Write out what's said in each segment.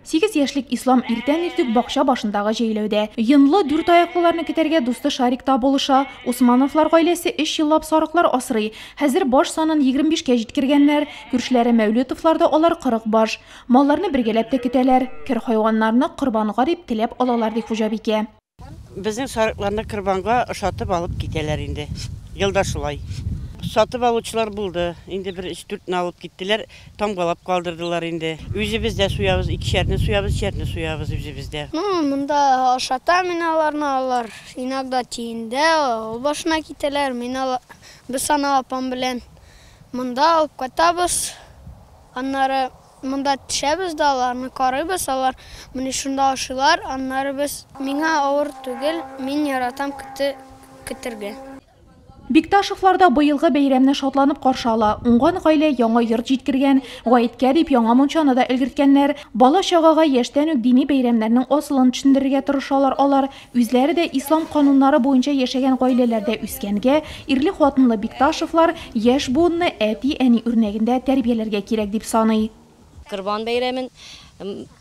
Сигез яшьлек Ислам иртән иртүк бакча башындагы җәйләүдә. Йонлы дүрт аяклыларны китәргә дусты Шарик та булыша. Усмановлар гаиләсе өч еллап сарыклар асрый. Хәзер баш санын 25 кә җиткергәннәр. Күршеләре Мәүлетовлар да алар 40 баш. Малларны бергәләп тә көтәләр. Кер хайваннарны корбанга дип теләп алалар, ди хуҗабикә. Безнең сарыкларны корбанга ошатып алып китәләр инде. Елда шулай. Сатып алучылар булды. Инде бер өч-дүртне алып киттеләр, тамгалап калдырдылар инде. Үзебез дә суябыз, икешәрне суябыз, өчәрне суябыз үзебез дә. Ну, монда ашатам мин аларны, алар иногда тиендә, авыл башына китәләр. Мин ала, без аны апам белән монда алып кайтабыз. Аннары. Монда төшәбез дә аларны карыйбыз, алар менә шунда ашыйлар, аннары без. Миңа авыр түгел, мин яратам коты көтәргә. Бикташевлар да быелгы бәйрәмне шатланып каршы ала. Уңган гаилә яңа йорт җиткергән, гаеткә дип яңа мунчаны да өлгерткәннәр. Бала-чагага яшьтән үк дини бәйрәмнәрнең асылын төшендерергә тырышалар алар. Үзләре дә ислам кануннары буенча яшәгән гаиләләрдә үскәнгә, ирле-хатынлы Бикташевлар яшь буынны әти-әни үрнәгендә тәрбияләргә кирәк дип саный. Корбан бәйрәмен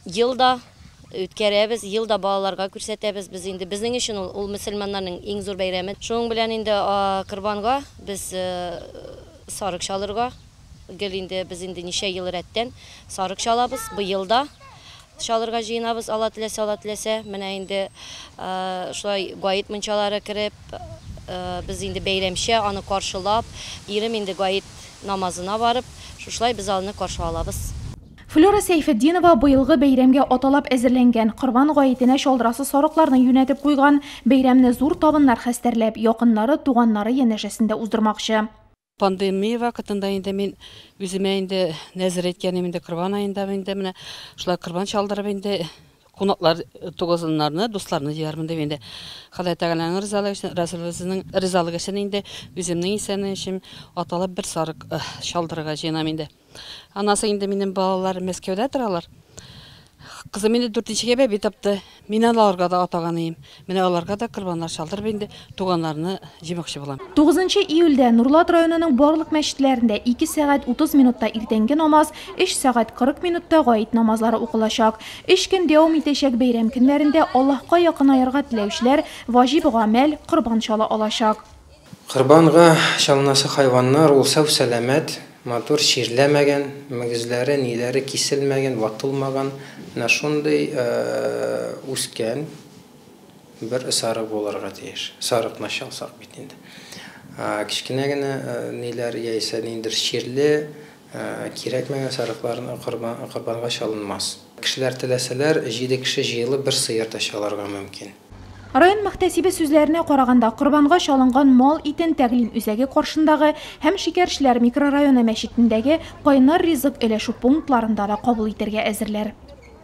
ел да үткәрәбез, ел да балаларга күрсәтәбез. Без инде, безнең өчен ул, ул мөселманнарның иң зур бәйрәме. Шуның белән инде корбанга без сарык чалырга. Гел инде без инде ничә ел рәттән сарык чалабыз. Быел да чалырга җыенабыз, Алла теләсә, Алла теләсә. Менә инде шулай гает мунчалары кереп, без инде бәйрәмчә аны каршылап, ирем инде гает намазына барып, шушылай без аны каршы алабыз. Флюра Сәйфетдинова быелгы бәйрәмгә аталап әзерләнгән, корбан гаетенә чалдырасы сарыкларны юнәтеп куйган. Бәйрәмне зур табыннар хәстәрләп, якыннары, туганнары янәшәсендә уздырмакчы. Пандемия вакытында инде мин үземә инде нәзер әйткәнем инде корбан аенда инде менә шулай корбан чалдырып инде кунаклар тугызыннарны, дусларны җыярмын дип инде Ходай Тәгаләнең ризалыгы өчен, Расулыбызның ризалыгы өчен инде үземнең исәнлегем өчен аталап бер сарык чалдырырга җыенам инде. Анасы инде минем балалар Мәскәүдә торалар. Кызым инде дүртенчегә бәби тапты. Мин аларга да атаган ием. Менә аларга да корбаннар чалдырып инде туганнарны җыймакчы булам. 9 июльдә Нурлат районының барлык мәчетләрендә 2 сәгать 30 минутта иртәнге намаз, 3 сәгать 40 минутта гает намазлары укылачак. Өч көн дәвам итәчәк бәйрәм көннәрендә Аллаһка якынаерга теләүчеләр ваҗиб гамәл, корбан чала алачак. Корбанга чалынасы хайваннар ул сау-сәламәт, матур чирләмәгән, мөгезләре, ниләре киселмәгән, ватылмаган, менә шундый үскән бер сарык булырга тиеш. Сарыкны чалсак бит инде. Кечкенә генә ниләр яисә ниндидер чирле, кирәкмәгән сарыклар корбанга чалынмас. Кешеләр теләсәләр, җиде кеше җыелып бер сыер да чалырга мөмкин. Район мөхтәсибе сүзләренә караганда, корбанга чалынган мал итен тәгълим үзәге каршындагы һәм Шикәрчеләр микрорайоны мәчетендәге Кайнар ризык өләшү пунктларында да кабул итәргә әзерләр.